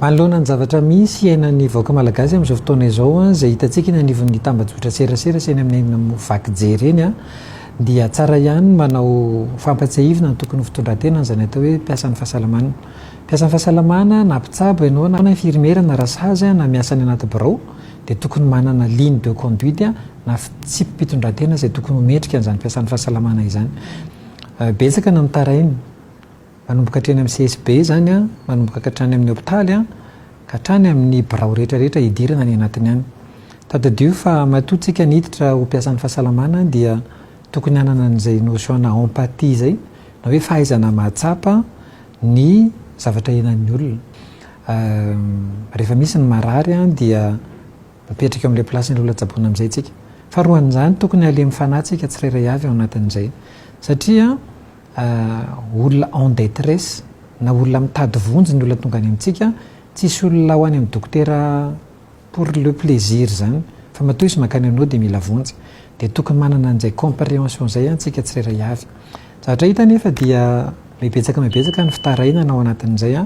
Manoloana ny zavatra misy iainan'ny vahoaka malagasy amin'izao fotoana izao, izay hitantsika eny anivon'ny tambajotran-tserasera sy eny amin'ny eny vaky jery eny, dia tsara ihany ny manao fampatsiahivina ny tokony ho fitondran-tena an'izany atao hoe mpiasan'ny fahasalamana. Mpiasan'ny fahasalamana na mpitsabo ianao na infirmiera na rasazy na miasa any anaty birao dia tokony manana ligne de conduite na fitsipi-pitondran-tena izay tokony ho mendrika an'izany mpiasan'ny fahasalamana izany. Betsaka no mitaraina. Manomboka hatreny amin'ny CSB izany an, manomboka hatrany amin'ny hopitaly ka hatrany amin'ny birao rehetra rehetra hidirana any anatiny any. Tadidio fa matoa tsika niditra ho mpiasan'ny fahasalamana dia tokony hanana an'izay notion-na empathie izay na hoe fahaizana mahatsapa ny zavatra ianan'ny olona. Rehefa misy ny marary an dia mipetraka eo amin'ilay place-n'ilay olona tsaboina amin'izay tsika. Faharoan'izany tokony halemy fanahy tsika tsirairay avy ao anatin'izay satria olona en detresse na olona mitady vonjy ny olona tonga any amintsika, tsisy olona ho any amin'ny dokotera pour le plaisir zany fa matoa izy mankany aminao dia mila vonjy dia tokony manana an'izay comprehension izay antsika tsirairay avy. Zavatra hita anefa dia mibetsaka mibetsaka ny fitarainana ao anatin'izay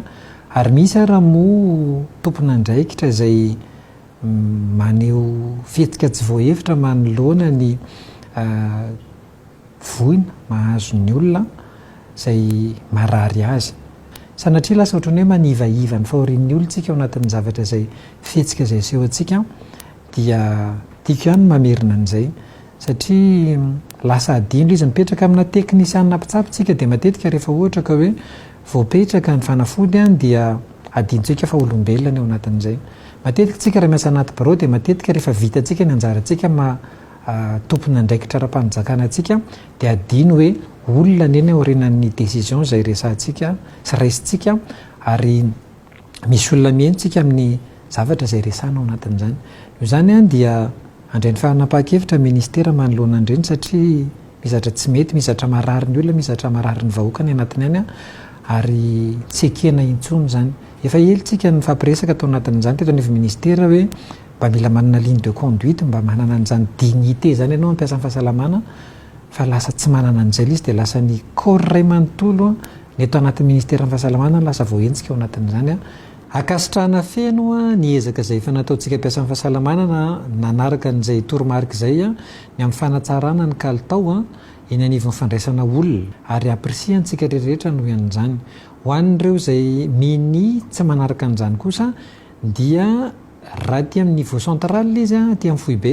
ary misy ara moa tompon'andraikitra izay maneho fihetsika tsy voahevitra manoloana ny voina mahazo ny olona izay marary azy. Sanatria lasa ohatran'ny hoe manivaiva ny fahorian'ny olon-tsika ao anatin'ny zavatra izay fihetsika izay aseho antsika dia tiako ihany ny mamerina an'izay satria lasa adino izy. Mipetraka amina teknisianina mpitsabo isika dia matetika rehefa ohatra ka hoe voapetraka ny fanafody dia adinontsika fa olombelona ny ao anatin'izay. Matetika isika raha miasa anaty birao dia matetika rehefa vita antsika ny anjarantsika tompon'andraikitra ara-panjakana antsika dia adino hoe olona ny eny aorinan'ny décision izay resahantsika sy raisintsika ary misy olona miheno tsika amin'ny zavatra izay resahana ao anatin'izany. Noho izany dia andray ny fanapahan-kevitra ministera manoloana an'ireny satria misy zavatra tsy mety, misy zavatra marary ny olona, misy zavatra marary ny vahoaka any anatiny any ary tsy ekena intsony izany. Efa ela isika nifampiresaka tao anatin'izany teto anivon'ny ministera hoe. Mba mila manana ligne de conduite mba manana an'izany dignité izany ianao hampiasa ny fahasalamana fa lasa tsy manana an'izay ilay izy dia lasa ny corps iray manontolo ny eto anatin'ny ministeran'ny fahasalamana lasa voahenjika ao anatin'izany Ankasitrahana feno ny ezaka izay efa nataontsika mpiasan'ny fahasalamana nanaraka an'izay toromarika izay ny amin'ny fanatsarana ny kalitao eny anivon'ny fandraisana olona ary apprcientsika ry rehetra noho an'izany. Ho an'ireo izay mini tsy manaraka an'izany kosa dia. Raha aty amin'ny niveau central ilay izy, aty amin'ny foibe,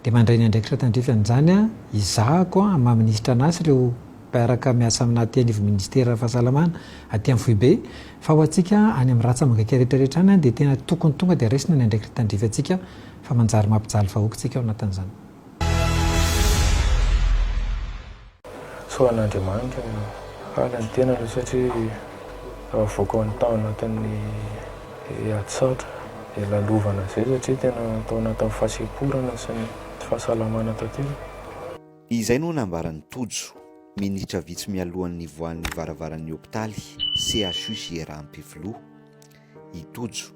dia mandray ny andraikitra tandrify an'izany izahako amin'ny maha minisitra an'asa ireo mpiaraka miasa aminà aty anivon'ny minisiteran'ny fahasalamana aty amin'ny foibe, fa ho antsika any amin'ny ratsamangaka rehetra rehetra any dia tena tokony tonga dia raisina ny andraikitra tandrify antsika fa manjary mampijaly vahoaka isika ao anatin'izany. Sao an'Andriamanitra no hahalala ny tenany satria raha avoaka ao tao anatin'ny herintsatra hilalovana izay satria tena tao anatin'ny fahasemporana sy ny tsy fahasalamana tanteraka. Izay no nambaran'i Tojo, minitra vitsy mialohan'ny nivoahan'ny varavaran'ny hopitaly CHU Jiera Ampefiloha. I Tojo,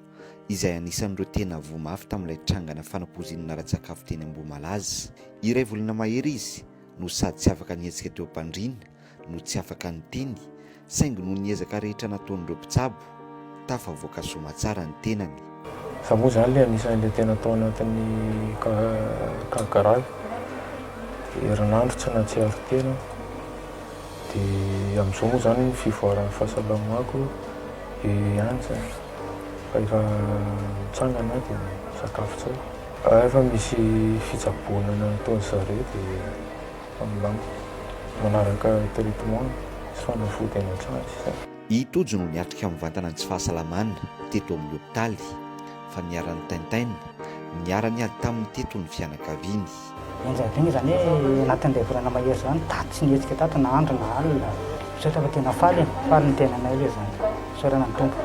izay anisan'ireo tena voa mafy tamin'ilay trangana fanapoizinana ara-tsakafo teny Ambohimalaza. Iray volana mahery izy no sady tsy afaka nihetsika teo am-pandriana no tsy afaka niteny saingy noho ny ezaka rehetra nataon'ireo mpitsabo, tafavoaka soamatsara ny tenany. Za moa zany le anisan'ilay tena tao anatin'ny cas grave, herinandro tsy nahatsiaro tena aho, de amzao moa zany ny fivoaran'ny fahasalamako eo ihany zany fa efa mitsangana aho de misakafo tsara. Raha efa misy fitsaboana ny an'itony zare dia milamina. Manaraka traitement sy fanafody any an-trano sisa. I Tojo no niatrika mivantana ny tsy fahasalamana teto amin'ny hopitaly, fa niharan'ny tintin, niharany ady taminy teto ny fianakaviany. Enjehibigny izany hoe anatin'izay volana mahery izao ny daty tsy nihetsika tato na andro na alina. Misaotra fa tena faly e! Faly ny tenanay aloha izany. Isaorana ny Tompo.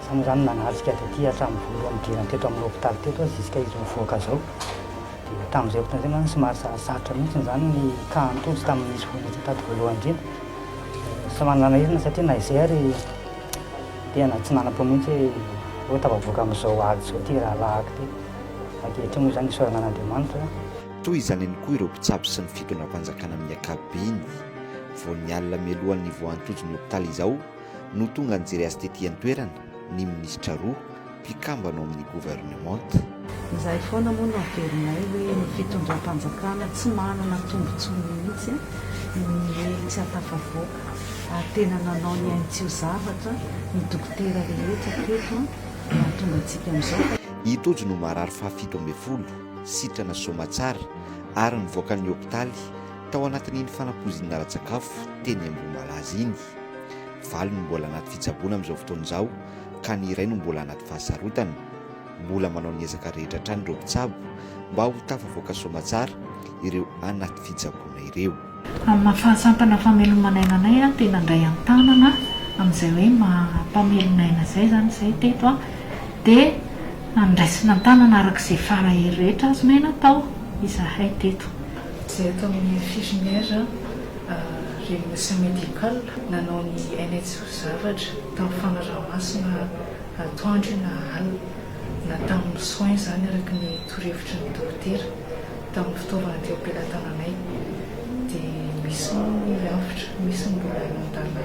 Samy izany nanajika azy aty hatramin'ny voalohany nidirany teto amin'ny hopitaly teto aho ziska izy mivoaka izao. Dia tamin'izay fotoana izay mantsy somary sarosarotra mihitsy izany ny kaha nitojo tamin'ny nisy voa niditra tato voalohany indrindra. Somary nanahirana izy satria na izay ary tena tsy nanam-po mihitsy hoe hoe tafavoaka amin'izao ady izao ity rahalahiko ity. Ankehitriny moa izany isaorana an'Andriamanitra. Toy izany ihany koa ireo mpitsabo sy ny fitondram-panjakana amin'ny ankapobeny. Vao ny alina mialohan'ny voan'ny tojo ny hopitaly izao, no tonga nijery azy tety an-toerana ny minisitra roa mpikambana ao amin'ny governemanta. Izay foana moa no averinay hoe ny fitondram-panjakana tsy manana tombontsoa mihitsy no niely tsy ahatafavoaka ary tena nanao ny ainy tsy ho zavatra ny dokotera rehetra teto no hahatonga antsika amin'izao fa I Tojo no marary fahafito ambin'ny folo, sitrana soamatsara, ary nivoaka ny hopitaly tao anatin'iny fanapoizinana ara-tsakafo teny Ambohimalaza iny. Valo no mbola anaty fitsaboana amin'izao fotoana izao ka ny iray no mbola anaty fahasarotana. Mbola manao ny ezaka rehetra hatrany ireo mpitsabo mba ho tafavoaka soamatsara ireo anaty fitsaboana ireo. Amina fahasampana fameloman'aina anay aho te nandray an-tanana an'izay hoe maha mpamelona aina izay izany izahay teto dia andraisina an-tanana araka izay fara hery rehetra azonay natao izahay teto. Izahay eto amin'ny infirmière Renosy Medical nanao ny aina tsy ho zavatra tamin'ny fanaraha-masina atoandro na alina na tamin'ny soins izany araka ny torohevitry ny dokotera tamin'ny fitaovana teo am-pelatananay dia misy moa ny avotra, misy ny mbola nandàna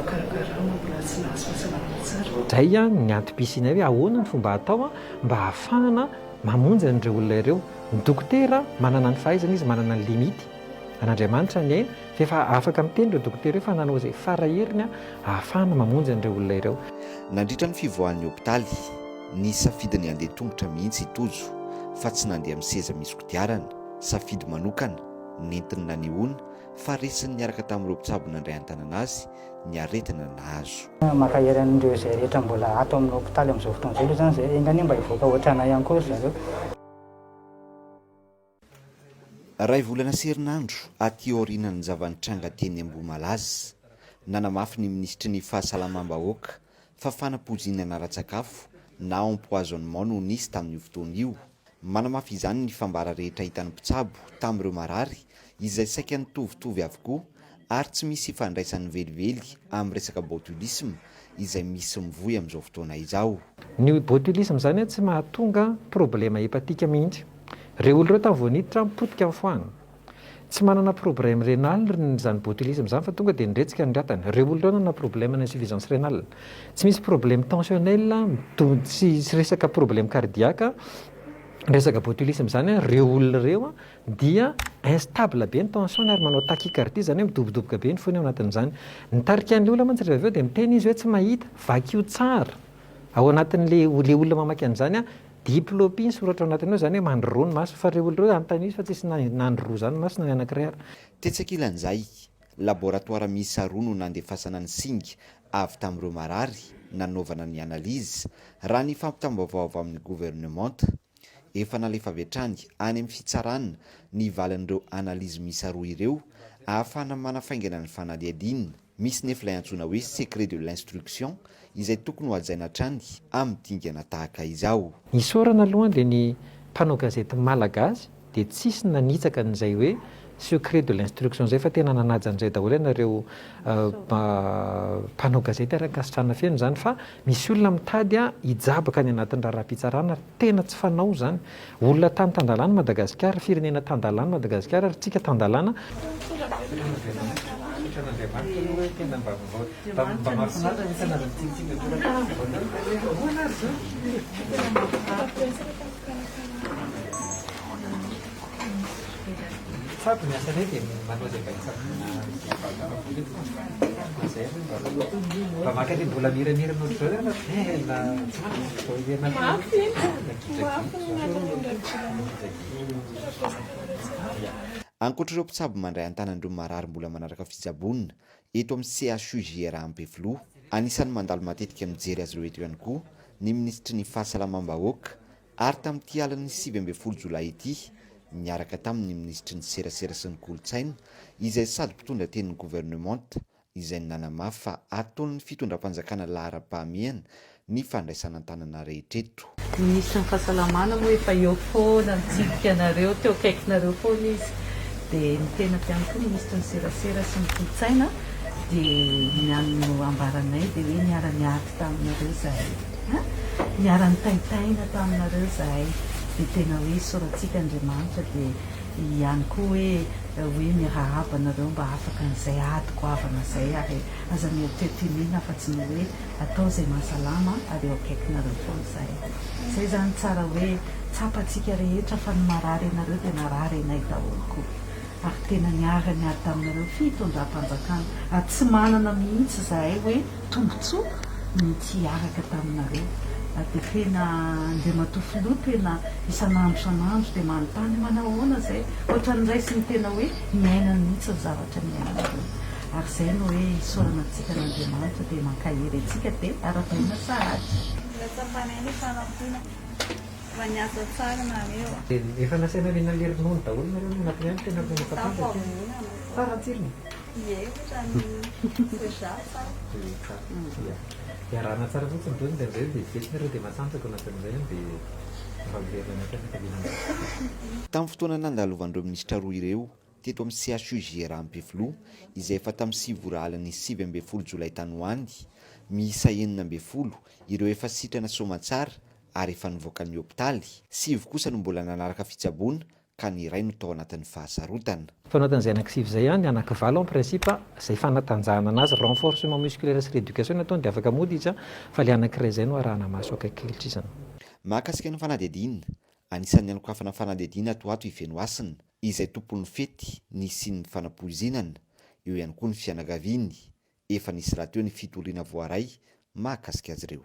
karama mbola tsy nahazo fahasalamana tsara. Izay ny antom-pisianay hoe ahoana ny fomba atao mba ahafahana. Mamonjy an'ireo olona ireo. Ny dokotera manana ny fahaizany izy, manana ny limite. An'Andriamanitra ny aina, fa efa afaka miteny ireo dokotera ireo fa nanao izay fara heriny ahafahana mamonjy an'ireo olona ireo. Nandritra ny fivoahan'ny hopitaly, nisafidiny handeha tongotra mihitsy i Tojo fa tsy nandeha amin'ny seza misy kodiarana, safidy manokana, nentiny nanehoana fa resiny niaraka tamin'ireo mpitsabo nandray an-tanana azy ny aretina nahazo. Mankahery an'ireo izay rehetra mbola ato amin'ny hopitaly amin'izao fotoana izao aloha izany izay, enga anie mba hivoaka ohatranay ihany koa ry zareo. Iray volana sy herinandro aty aorianan'ny zava-nitranga teny Ambohimalaza, nanamafy ny minisitry ny Fahasalamam-bahoaka fa fanampoizinana ara-tsakafo na empoisonnement no nisy tamin'io fotoana io, Manamafy izany ny fambara rehetra hitan'ny mpitsabo tamin'ireo marary izay saika nitovitovy avokoa ary tsy misy ifandraisany velively amin'ny resaka botulisme izay misy mivoy amin'izao fotoana izao. Ny botulisme izany tsy mahatonga problema hepatika mihitsy. Ireo olona ireo tany vao niditra potika ny foagna. Tsy manana problème rénal ry ny zany botulisme zany fa tonga dia niretsika ny ratany. Reo olona reo nanana problème na insuffisance rénale. Tsy misy problème tensionnel tsy resaka problème cardiaque resaka botulisme zany an, reo olona reo dia instable be ny tension-ny ary manao tachycardie zany hoe midobodoboka be ny fony ao anatin'izany. Ny tarika an'ilay olona mantsy rehefa avy eo dia miteny izy hoe tsy mahita, vakio tsara ao anatin'ilay olona mamaky an'izany an, Diplopie ny soratra ao anatiny ao izany hoe mandroroa ny maso fa ireo olona ireo anontaniana izy fa tsisy nandroroa izany ny masony na ny anankiray ary. Tetsy ankilan'izay, laboratoara miisa roa no nandefasana ny singa avy tamin'ireo marary nanaovana ny analyse, raha ny fampitam-baovao avy amin'ny governemanta. Efa nalefa avy hatrany any amin'ny fitsarana ny valin'ireo analyse miisa roa ireo ahafahana manafaingana ny fanadihadiana. Misy nefa ilay antsoina hoe secret de l'instruction izay tokony hohajaina hatrany amin'ny dingana tahaka izao. Isaorana aloha an le ny mpanao gazety malagasy dia tsisy nanitsaka an'izay hoe secret de l'instruction zay fa tena nanaja an'izay daholo ianareo mpanao gazety ary ankasitrahana feno izany fa Misy olona mitady hijabaka any anatin'ny raharaham-pitsarana ary tena tsy fanao izany. Olona tany tan-dalàna i Madagasikara, firenena tan-dalàna i Madagasikara ary isika tan-dalàna. Ankoatra ireo mpitsabo mandray an-tanan'ireo marary mbola manaraka fitsaboana eto amin'ny CHU JRA Ampefiloha, anisan'ny mandalo matetika mijery azy ireo eto ihany koa ny minisitry ny Fahasalamam-bahoaka, Ary tamin'ity alin'ny sivy ambin'ny folo jolay ity, niaraka taminy ny minisitry ny Serasera sy ny Kolontsaina, izay sady mpitondra tenin'ny governemanta, izay nanamafy fa ataon'ny fitondram-panjakana laharam-pahamehana ny fandraisana an-tanana rehetra eto. Ny minisitry ny Fahasalamana moa efa eo foana mitsidika anareo, teo akaikinareo foana izy. Dia ny tenako ihany koa minisitry ny Serasera sy ny Kolontsaina dia ny an'ny ambaranay dia hoe niara-niady taminareo izahay. Niara nitaintaina taminareo izahay dia tena hoe soratsika Andriamanitra dia ihany koa hoe hoe mirahaba anareo mba afaka an'izay ady goavana izay ary aza mieritreritra hiniana afa tsy ny hoe atao izay mahasalama ary eo akaikinareo foana izahay. Izay izany tsara hoe tsapantsika rehetra fa ny marary anareo dia narary anay daholo koa ary tena niara niady taminareo fitondram-panjakana ary tsy manana mihitsy izahay hoe Tombotsoa ny tsy hiaraka taminareo. Dia tena Andriamatoa Filoha tena isan'andro isan'andro dia manontany manao ahoana izay? Ohatran'ny raisiny tena hoe ny ainany mihitsy ny zavatra niainanareo. Ary izay no hoe isaorana antsika an'Andriamanitra dia mankahery antsika dia arahabaina sahady. Natsapanay ny fanampiana fa niasa tsara nareo. Dia efa nasaina ry nalery nono daholo nareo ny anatiny any tena mbola mampatandra aty. Tsara ny tsirony. Ie, ohatran'ny soja sa? Ia. Dia arahana tsara fotsiny ireo indraindray dia vetivety moa ireo dia matanjaka na dia amin'izay aza dia mba miverina any an-tsaina fa vita ny. Tamin'ny fotoana nandalovan'ireo minisitra roa ireo teto amin'ny CHUJR Ampefiloha, izay efa tamin'ny sivy ora alin'ny sivy ambin'ny folo jolay tany ho any, miisa enina ambin'ny folo ireo efa sitrana soamantsara ary efa nivoaka ny hopitaly, sivy kosa no mbola nanaraka fitsaboana ka ny iray no tao anatin'ny fahasarotana. Tao anatin'izay anankisivy izay ihany, anankivalo en principe, izay fanatanjahana anazy, renforcement musculaire sy rééducation no ataony dia afaka mody izy fa ilay anankiray izay no arahana maso akaiky kilitrizana. Mahakasika ny fanadihadiana, anisan'ny hanokafana fanadihadiana ato ho ato i Fenohasina, izay tompon'ny fety nisian'ny fanapoizinana, eo ihany koa ny fianakaviany, efa nisy rahateo ny fitoriana voaray mahakasika azy ireo.